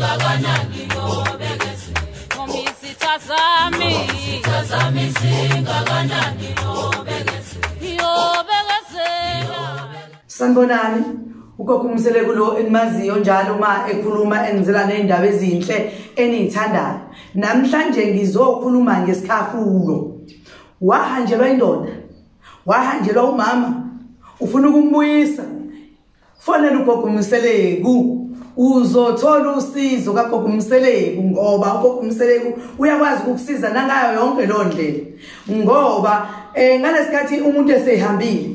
ingakanani ngobekezela ngoba izitha zami izitha zami zingakanani ngobekezela yobekezela sanibonani ugogo umseleku lo enimaziyo njalo uma ekhuluma enizela ney'ndaba ezinhle eniyithandayo namhlanje ngizokhuluma ngesikhafulo wahanjelwa indoda wahanjelwa umama ufuna ukumbuyisa Fonela ugogo Mseleku uzothola usizo kagogo Mseleku ngoba ugogo Mseleku uyakwazi ukukusiza nangayo yonke lo ndlela ngoba eh ngalesikhathi umuntu esehambile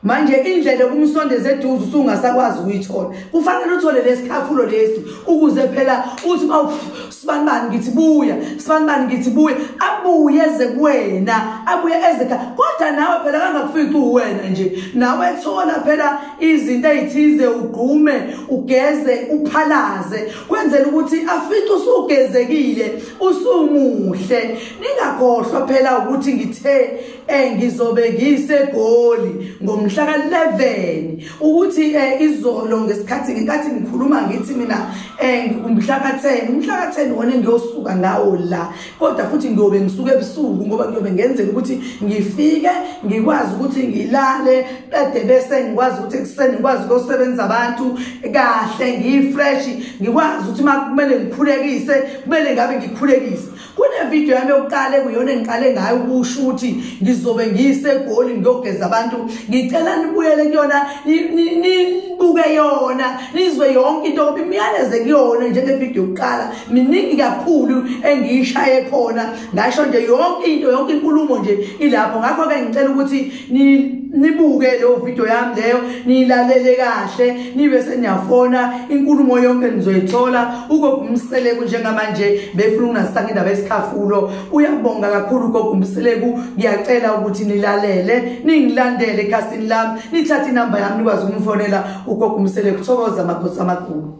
manje indlela kumsondeza eduze usungasakwazi ukuyithola kufanele uthole lesikhafulo lesi ukuze phela uthi sibanibani ngithi buya sibanibani ngithi buya abuye eze kuwena abuye eze khaya kodwa nawe phela kangakufici uwena nje nawe thola phela izinto ezithize ugqume ugeze uphalaze kwenzela ukuthi afice usugezekile usumuhle ningakhohlwa phela ukuthi ngithe eh ngizobe ngisegoli ngomhla ka11 ukuthi eh izolo ngesikhathi ngenkathi ngikhuluma ngithi mina eh umhla ka10 umhla ka10 wona ngiyosuka ngawo la kodwa futhi ngiyobe ngisuke ebusuku ngoba ngiyobe ngenzela ukuthi ngifike ngikwazi ukuthi ngilale qede bese ngikwazi ukuthi ekuseni ngikwazi ukusebenza abantu kahle ngiyifresh ngikwazi ukuthi makumele ngikhulekise kumele ngabe ngikhulekise kunevidiyo yami yokuqala ekuyona engiqale ngayo ukusho ukuthi ngizobe ngiyisegoli ngiyogeza abantu ngicela nibuyele kuyona nibuke yona nizwe yonke into ukuthi imiyaleze kuyona njengevidiyo yokuqala miningi kakhulu engiyishaye khona ngasho nje yonke into yonke inkulumo nje ilapho ngakho-ke ngicela ukuthi nibuke leyo video yami leyo niyilalele kahle nibe seniyafona inkulumo yonke nizoyithola ugogumseleku njengamanje befuna ukungasanga indaba yesikhafulo uyabonga kakhulu ugogumseleku ngiyacela ukuthi nilalele ningilandele ekhasini lami nithathe inamba yami nikwazi ukumfonela ugogumseleku thokoza makhosi amakhulu